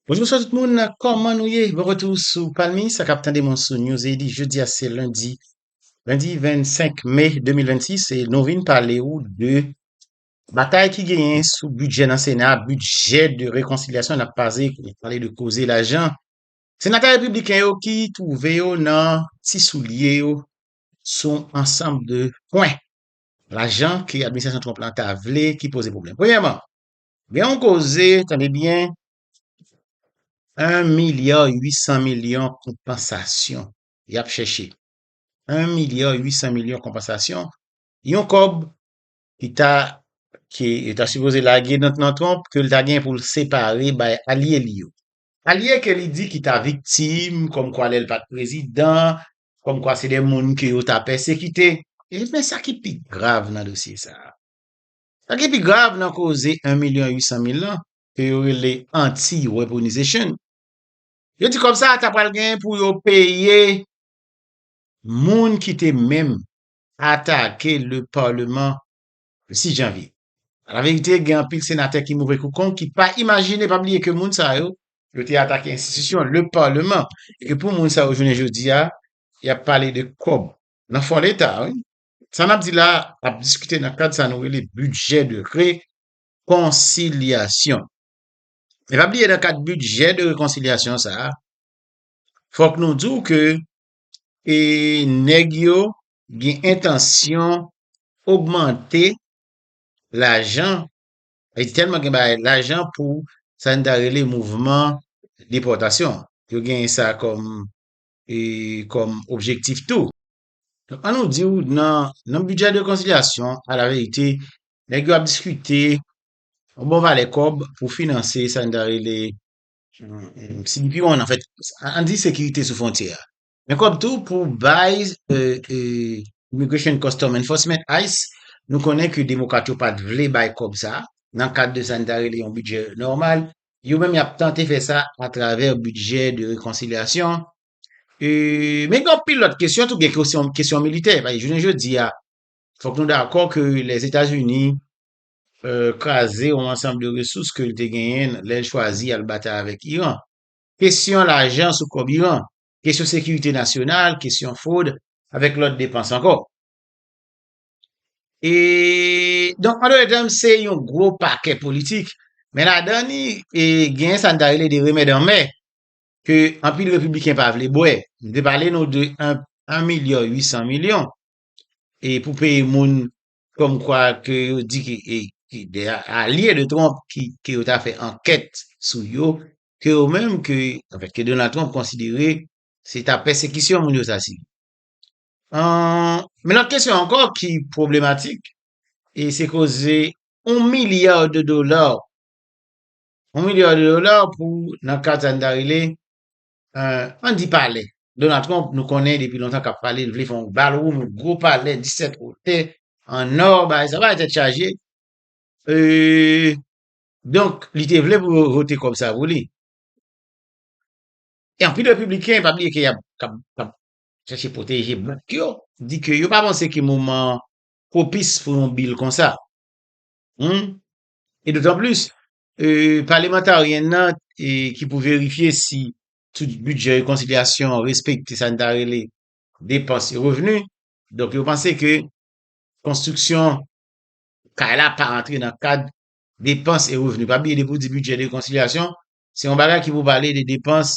Bonjour sa tout moun, kòman nou ye? Bon retour sou Palmi, sa kap tande mwen sou News Edi, jodi a se lundi, lundi 25 mai 2026 e nou vin pale ou de batay ki genyen sou budget nan Sena, budget de réconciliation nap pase, nap pale de koze lajan. Senatè républicain yo ki trouve yo nan ti soulye yo sou ansanm de pwen. Lajan ke administrasyon Trump la ta vle ki poze pwoblèm. Premyèman, gen yon koze, tande byen, 1 milya 800 milyon konpansasyon y ap chèche. 1 milya 800 milyon konpansasyon, yon kòb ki ta, ke yo ta sipoze lage nan Trump, ke l ta gen pou l separe bay alye li yo. Alye ke li di ki ta viktim, kòmkwa lè l pa t prezidan, kòmkwa se de moun ke yo ta pèsekite. Men sa ki pi grav nan dosye sa a, sa ki pi grav nan koze 1 milyon 800 mil lan, ke yo rele anti-weaponization, yo di kòb sa a ta pral gen pou yo peye moun ki te menm atake le parlement le 6 janvye. Alaverite, gen anpil senatè ki move kou kong ki pa imajine, pa bliye ke moun sa yo, yo te atake enstitisyon, le Parlement, e ke pou moun sa yo jounen jodi a, y ap pale de kòb nan fon Leta a wi. Sa n ap di la a, ap diskite nan kad sa nou rele bidjè de rekonsilyasyon. E pa bliye nan kad bidjè de rekonsilyasyon sa a, fòk nou di w ke e nèg yo gen entansyon ogmante lajan, e tèlman gen bagay lajan pou sa n ta rele mouvman depòtasyon. Yo gen sa kòm e kòm objektif tou. Donk an nou di w nan nan bidjè de konsilyasyon alaverite nèg yo ap diskite yon bon valè kòb pou finanse sa n ta rele CBP one anfèt, an di sekirite sou fwontyè a. Men kòb tou pou bay Immigration and Custom Enforcement, ice, nou konnen ke demokrat yo pat vle bay kòb sa nan kad de sa n ta rele yon bidjè nòmal, yo menm y ap tante fè sa atravè bidjè de rekonsilyasyon. Men gen anpil lòt kesyon tou, gen kesyon militè, paske jounen jodi a, fòk nou dakò ke Lèzetazini kraze yon ansanm de resous ke l te genyen lè l chwazi al batay avèk Iran. Kesyon lajan sou kòb Iran, kesyon sekirite nasyonal, kesyon fwod, avèk lòt depans ankò. E, donk, an done tèm, se yon gwo pakè politik, men ladan li, e, genyen sa n ta rele de remèd anmè, ke anpil repibliken pa vle bwè. M te pale nou de 1 milya 800 milyon, e pou peye moun Kòm kwa ke yo di ke e ki de alye de Trump ki ke yo ta fè ankèt sou yo, ke yo menm ke anfèt ke Donald Trump konsidere se ta pèsekisyon moun yo sa si. An men lòt kesyon ankò ki pwoblematik e se koze yon milya de dola, yon milya de dola pou nan kad sa nou ta rele An di pale, Donald Trump nou konnen depi lontan kap pale li vle fè yon bal wonn, yon gwo pale 17 otè an ò, bagay sa bagay tèt chaje e donk li te vle pou yo vote kòb sa pou li. E anpil repibliken pa bliye ke yap kap chache pwoteje blak yo, di ke yo pa panse ke moman an pwopis pou yon bil konsa. Humm e dotan plis Palemantaryen nan ki pou verifye si tout bidjè rekonsilyasyon an respekte sa n ta rele depans e revni, donk yo panse ke konstriksyon kay la pa rantre nan kad depans e revni. Pa bliye depi w di bidjè de rekonsilyasyon, se yon bagay ki pou pale de depans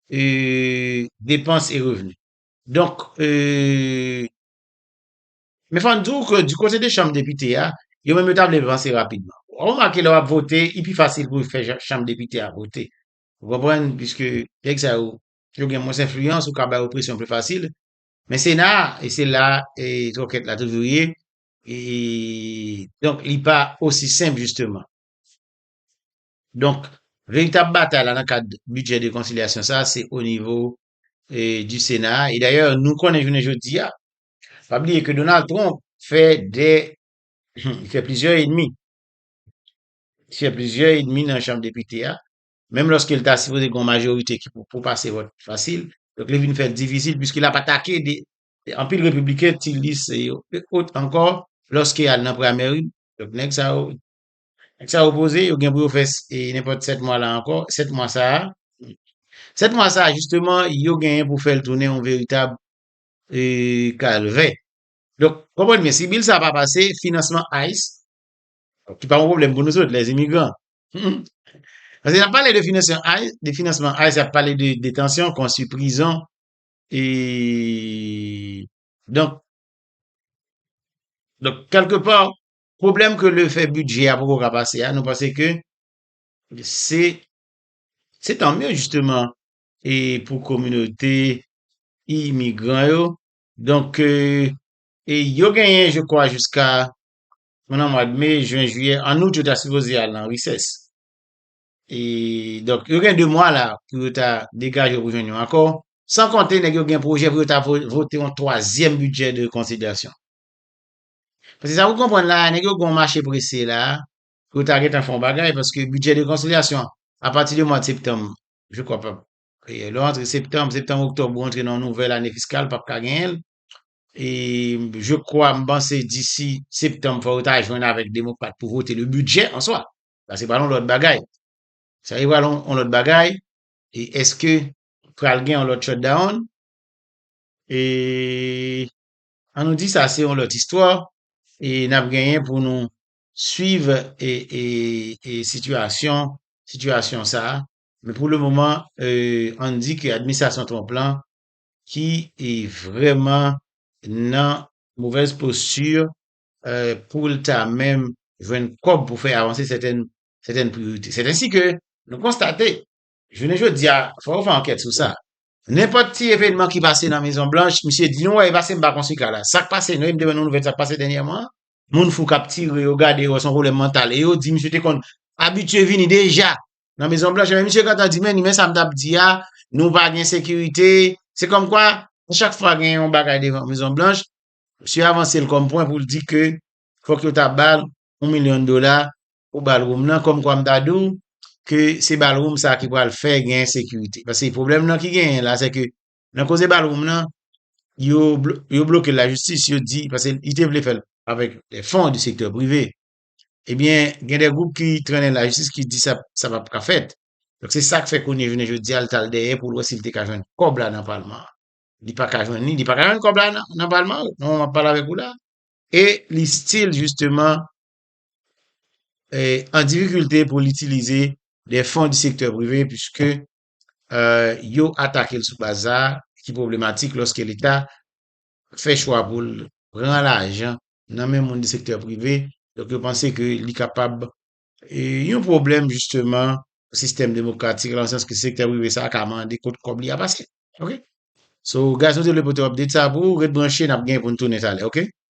e depans e revni. Donk e. Men fò n di w ke di kote de chanm depite a, yo menm yo ta vle vanse rapidman. W ap remake lè w ap vote, li pi fasil pou fè chanm depite a vote. Ou konprann? Piske nèg sa yo, yo gen mwens enfliyans, ou ka ba yo presyon pi fasil. Men sena a, e se la twòkèt la toujou ye, e donk li pa osi senp jisteman. Donk, veritab batay la nan kad bidjè de konsilyasyon sa a, se onivo di sena a. E dayè, nou konnen jounen jodi a, Pa bliye ke Donald Trump fè de, li fè plizyè edmi, li fè plizyè edmi nan chanm depite a, menm lòske li ta sipoze gen yon majorite ki pou pase vòt fasil, donk li vin fè l difisil piske l ap atake de anpil repibliken ti lis se yo e ot ankò lòske y al nan primary, donk nèg sa yo, nèg sa yo poze, yo gen pou yo fè nenpòt 7 mwa la ankò, 7 mwa sa a, 7 mwa sa a jisteman yo genyen pou fè l tounen yon veritab e Calvin. Donk, konprann byen, si bil sa a pa pase, finansman ice, ki pa yon pwoblèm pou nouzot, lè imigran, paske y ap pale de finansman ice, de finansman ice, y ap pale de detansyon, konstwi prizon, e, donk, donk, kèlke pa, pwoblèm ke le fè bidjè a poko ka pase a, nou panse ke se, se tanmye jisteman, e pou kominote imigran yo. Donk, e yo genyen je kwa jiska nou nan mwad me, jwen, jiyè, an out yo ta sipoze al nan resès. E donk yo gen 2 mwa la pou yo ta degaje pou jwenn yon akò. San konte nèg yo gen pwojè pou yo ta vote yon twazyèm bidjè de konsiderasyon. Paske sa pou konprann la a, nèg yo gen yon mache prese la a pou yo ta gentan fè yon bagay paske bidjè de konsilyasyon apati de mwad septanm Je kwa pap. Lè w antre septanm, septanm oktòb ou antre nan yon nouvèl ane fiskal pap ka genyen l. E je kwa m panse disi septanm fò yo ta jwenn avèk demokrat pou vote le bidjè an swa. Sa se pral yon lòt bagay. Sa se pral yon lòt bagay. E eske pral gen yon lòt shutdown? E an nou di sa se yon lòt istwa e n ap genyen pou nou swiv sitiyasyon sitiyasyon sa a, men pou le moman an n di ke administrasyon Trump lan ki vrèman nan movèz posti pou l ta menm jwenn kòb pou fè avanse sèten priyorite. Sèten si ke nou konstate Jounen jodi a, fò yo fè ankèt sou sa. Nenpòt ti evènman ki pase nan Mezon Blanch, misye di nou wè e pase m pa kon sika la. Sak pase nou e m te wè nan nouvèl sak pase dènyèman an. Moun fou kap tire yo gade yo wè son pwoblèm mantal e yo di misye te konn abitye vini deja nan Mezon Blanch ebyen misye gentan di men ni men sa m tap di a nou pa gen sekirite se kòm kwa a chak fwa gen yon bagay devan Mezon Blanch misye avanse l kòm pwen pou l di ke fòk yo ta ba l yon milyon dola pou ballroom nan kòmkwa m ta di w ke se ballroom sa ki pral fè gen ensekirite paske pwoblèm nan ki genyen la se ke nan koze ballroom nan yo bloke l lajistis yo di paske li te vle fè l avèk de fon di sektè prive ebyen gen de gwoup ki trennen l lajistis ki di sa sa p ap ka fèt donk se sa k fè kounye jounen jodi a l t al dèyè pou l wè si l te ka jwenn kòb la nan palman an li pa ka jwenn li li pa ka jwenn kòb la nan palman an nan moman m ap pale avèk ou la E li still jisteman an difikilte pou l itilize de fon di sektè prive puiske yo atake l sou baz sa a ki pwoblematik lòske leta fè chwa pou l pran lajan nan men moun di sektè prive donk yo panse ke li kapab yon pwoblèm jisteman sistèm demokratik la nan sans ke sektè prive sa a ka mande kot kòb li a pase ok So guys nou te vle pote update sa a pou ou ret branche n ap gen pou n tounen talè ok.